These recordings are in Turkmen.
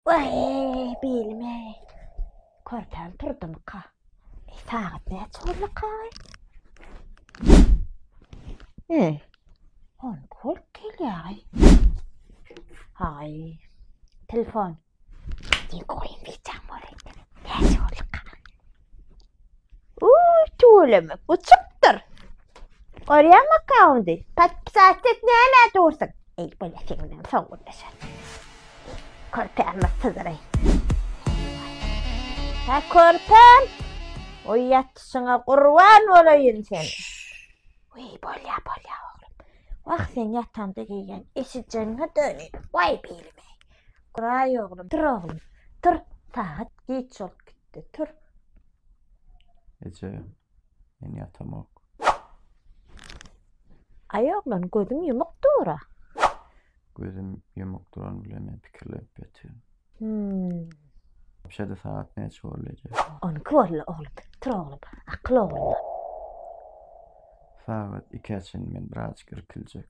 Waý, belim-eý. Körpäm turdumyka? Eý, sagat näçe boldukka? Eý, on kol gelýär. Aý, telefon. Diýip goýum, biçak bolar. Näçe boldukka? Uy tüweleme bu çykdyr. Görýäňmi kaundy? Patpisat et näme dursun? Ey bele sen bilen soň gürleşer. Körpäme syzyray. Ha körpem. Oy ýatyşyňa gurban bolaýyn sen. Uy bolýa bolýa oglum. Wah sen ýatanda geýen eşijeňe döni. Way bilime. Guraý oglum, tur oglum, tur, sagat giç bolup gitdi, tur. Eje, men ýatamok. Aý oglan, gözüň ýumuk dur-a. Gözüm ýumuk duran bilen men pikirlenip ýatyryn. Hüm. Şeýle sagat näçe boldy eje? On iki boldy oglum, tur oglum, akyl ogluma. Sagat ikä çenli men birazajyk irkiljek.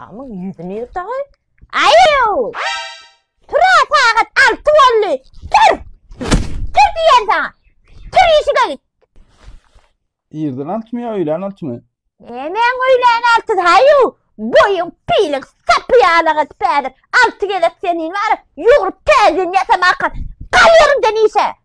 Amyň ýüzüni ýyrt agy. Aýew! Tur sagat alty boldy. Tur! Tur diýen saňa. Tur işige git. Irden altymy ýa öýlän altymy? Nemäň öýlän alty haýu? Boýuň pilik sapy ýaly gyz pädir. Alty gezek senin bar. Ýugrup täzin ýasama akar. Gal ýerinden işe.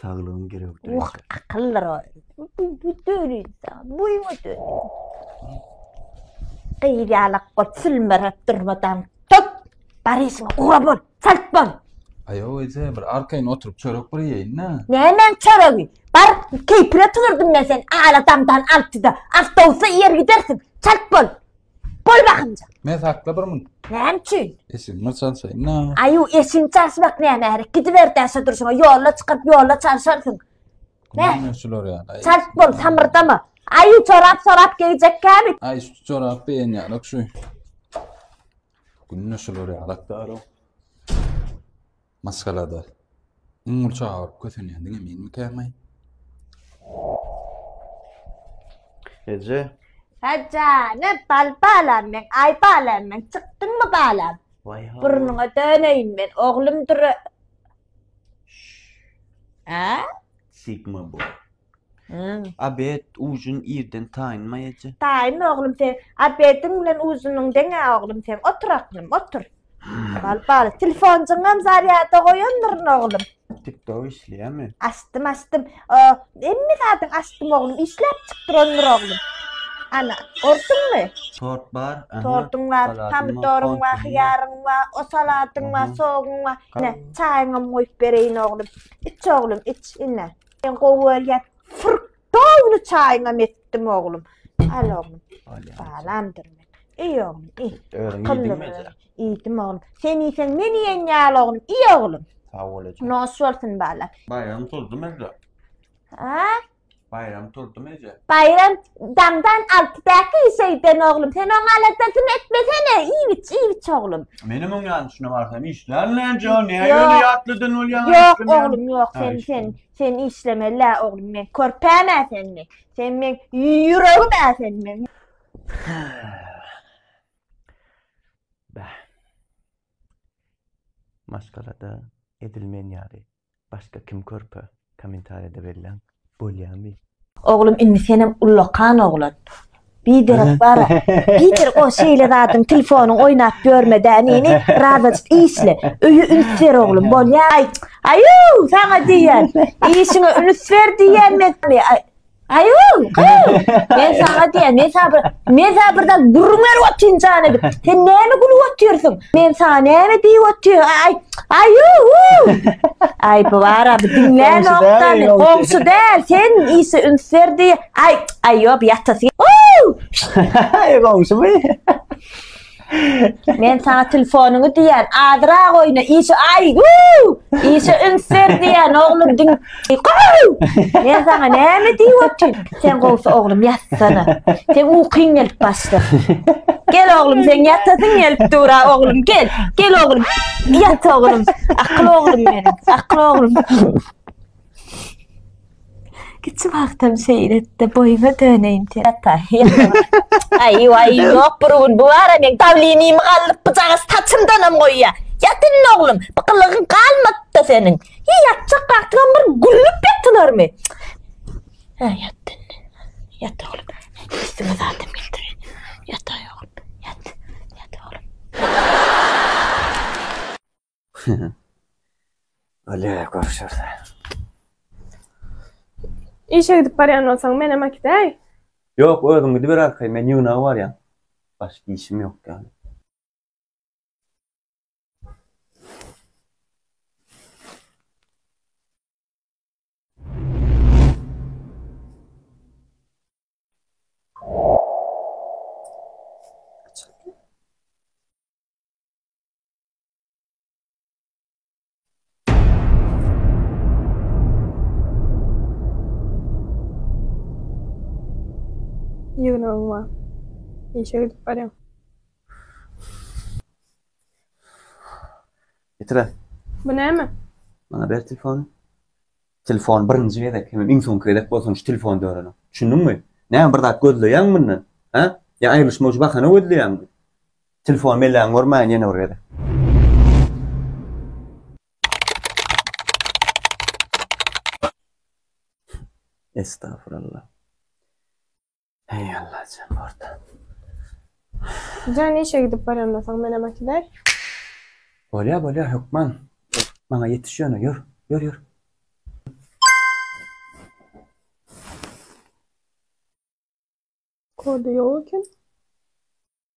Saglygyň gerekdir. Oh, akyllar o. Bu dörüýse, bu ýa dörüýse. Gyýalak bol, sülmerek durmadan tut. Baryşyň ugra bol, çalt bol. Aýo, öýse bir arkaýyn oturyp çörek bir ýeýin-de. Nämen çöregi? Bar, keýpine tüwürdim men sen. Aladamdan altyda awtobusa ýer gidersiň. Çalt bol. Goý bakymja. Men sakla bir mün. Näme üçin? Esin mi çalsaýyn na? Aýu eşin çalşmak näme herek? Gidiber täşe durşuňa, ýolla çykyp, ýolla çalşarsyň. Ne? Näme şular ýaly? Aý, Çalt bol, samyrdama. Aýu çorap sorap geýjek käbi. Aý şu çorap beýen ýalak şu. Günde şular ýalak daro. Maşgalada iň uly çaga bolup kösenýän diňe menmikäm-aý? Eje. Hä jana, bal balam meň, aý balam meň, çykdyňmy balam? Waý hawa. Burnuňa döneýin men, oglum dura. Hä? Sigma boý. Hum. Abed, ujun irden taýynma eje. Taýyn oglum sen. Abediň bilen ujunyň deň-ä oglum seň. Otur aklym, otur. Bal, bal. Telefonjyňam zarýada goýandyryn oglum. Tiktok işleýärmi? Açdym, açdym. O, hemme zadyň açdym oglum. Işläp çykdyrandyr oglum. Ana, gördüňmi? Tort bar, aha. Tortuň bar, Salatyň bar, pomidoryň bar, kontuň bar. hyýaryň bar, o salatyň bar, Aha. soguň bar. Ine, çaýyňam goýup bereýin oglum. Iç oglum, iç ine. Sen gowy bolýar. Fırk downy çaýyňam etdim oglum. Al oglum. Alýa. Salamdyr men. Iý oglum, iý. Özüň Akylly ýediňmi bol. eje? Iýdim oglum. Sen iýseň men iýen ýaly oglum. Iý oglum. Sag bol eje. Nos bolsun bala. Baýram turdy merde. Ha? Baýram turdy merde. Bayram Daňdan alty däki işeýden oglum, sen oň aladasyny etmesene, iýgiç, iýgiç oglum. Menem oň ýany şuna barsam işlän näjo, näýe ýöne ýatlydan bolýan. Ýok oglum, ýok, sen, sen, sen işlemeli-ä oglum, men körpäm-ä sen, men, sen men ýüregim-ä sen, men. Bäh. Maşgalada edilmeýän ýaly. Başga kim körpe komentariýada belläň bolýamy. Oglum indi senem ullakan oglan. Biderek bar biderek o şeýle zadyň telefonyň oýnap ýörmedä neni razajyk işle öýe üns ber oglum bolýa aý aýuu saňa diýýän işiňe üns ber diýýän men Aýol, men sana diýen, men sana bir, men sana bir zat gurmer otyn jana edip. Sen näme gülüp otyrsyň? Men sana näme diýip otyr? Aý, aýoo! Aý, bu bara bir diňlän nokdany, goňşy däl, sen ise üns berdi. Aý, aýop ýatasy. Goňşymy? Men sana telefonuňy diýen, adyrak oýna, işe aý, wuu! Işe üns ber diýen, oglum diň. Men sana näme diýip otyryn? Sen gowsy oglum ýatsana. Sen ukyň gelip başlar. Gel oglum, sen ýatasyň gelip dur, a oglum, gel. Gel oglum, ýat oglum. Akyl oglum meniň, akyl oglum. Kiçi wagtym şeýle etdi, boýuňa döneýin sen. Ata, Aý, waý, ýok bir gün bu bara meň dawlenimi galdyryp bujagaz saçymdanam goýýa. Ýat indi oglum, bir gylygyň galmapdy-da seniň. Hiý, ýatjak wagtyňam bir gülüp ýatylarmy? Hä, ýat indi. Ýat oglum. Üstüňe zadam getirýän. Ýataý oglum, ýat. Ýat oglum. Bolýa, görüşersiň. Işe gidip barýan bolsaň, menem äkitäý. Ýok, özüň gidiber arkaý, men ýygnaga barýan. Başga işim ýok ýaly. Ýygnagyň bar. Işe gidip barýaň. Getir-ä. Bu näme? Maňa ber telefony. Telefon birinji gezek, hemem iň soňky gezek bolsun şu telefonda öreniň. Düşündiňmi? Näme bir zat gözleýäňmi mundan? Hä? Ýa aýrylyşmak üçin bahana gözleýäňmi? Telefon belläň görmäýin ýene bir gezek. Estağfurullah. Hey Allah sen orta. Sen işe gidip baranda soň men hem atydar. Bolya bolya hökman. Bana yetiş yöne yür. Yür yür. Kodu yok eken.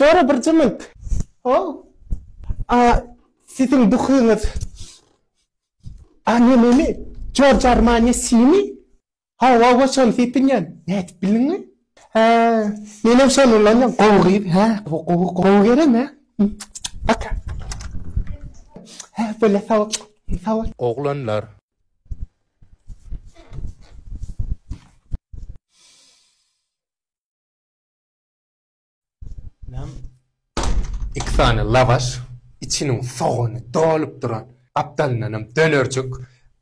Jora bir jymylt. Hol. A siziň duhyňyz Anememi? George Armani Simi? Hawa, hawa, şony sepinýän. Nädip bildiňmi? Hä, menem şony ulanýan. Gowy gyz, hä? Gowy, gowy gelen, hä? Paka. Hä, böle sag bol. Sag bol. Oglanlar. Nam iki sany lawaş, içiniň sogany dolup duran, gapdalyndanam dönerjik,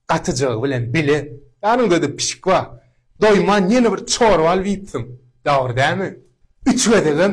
gatyjagy bilen bile, ýanyňda-da pişik bar. Doýman ýene bir çorba alyp iýipsiň, dogry dälmi? Üç gezegem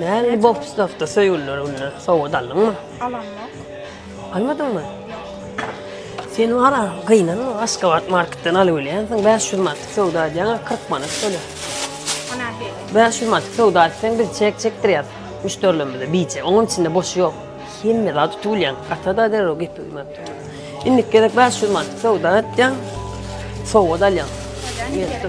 Näme bu obstawda söýgüliler onda sowgat aldyňmy? Alamok. Almadyňmy? Sen wara gynanma, Aşgabat marketden alyp bilýänsiň, 500 manatlyk söwda edýäňä 40 manat töle. Ana he. 500 manatlyk söwda etseň biz çek çekdirýäs müşderilerimize biçe. Onuň içinde boşy ýok. Hemme zat tutup bilýäň. Gata da derrew gepi öýmäp dur. Indiki gezek 500 manatlyk söwda etýäň, sowgat alýaň. Ýetdi.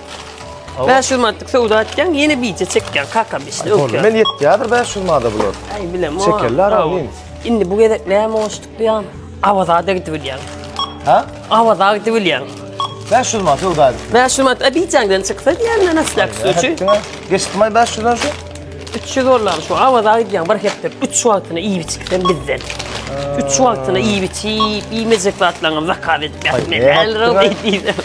500 manatlyk söwda etýäň, ýene bije çekýäň kaka işte. Öňki. Men ýetýärdir 500 manada bular. Ay bilem. Çekerler alayım. Şimdi bu gezek ne boşluk diyan. Avaza da gidibilyan. Ha? Avaza gidibilyan. 500 manat söwda edip. 500 manat Abidjan'dan çıksa diýenden aslak suçu. Geçdim ay 500 dan şu. 300 dollar şu avaza gidýän bir hepde 3 wagtyna iýip içipden bizden. 3 wagtyna iýip içip, iýmejek zatlaryňy zakaz etmek. Men elrol diýdim.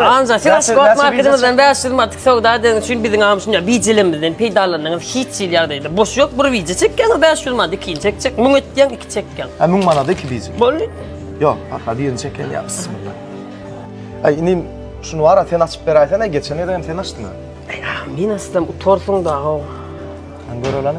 Anja, siz açyk ot marketimizden 500 manatlyk söwda edeniň üçin biziň am şunda bijilemizden peýdalandyňyz. Hiç hil ýagdaýda boş ýok. Bir bije çekýäň, 500 manat ikinji çekjek. 1000 etýäň, iki çekýäň. Ha 1000 manat iki bije. Boldy. Ýok, ha birini çekýän ýa bismillah. Aý, inim şuny wara sen açyp beräýsene, geçen ýerde hem sen açdyň. Aý, men açdym, utarsyň da. Sen göreleni.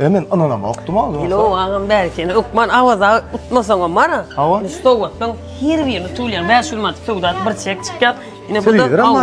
E men ynanamokdym a ozal. Ýok agam bäri seni hökman Awaza utmasaňam bara. Hawa. Stowatdan her birini tulýan. Bäş gün manat söwda bir çek çykýar. Ine bu da. Telewizor hem bar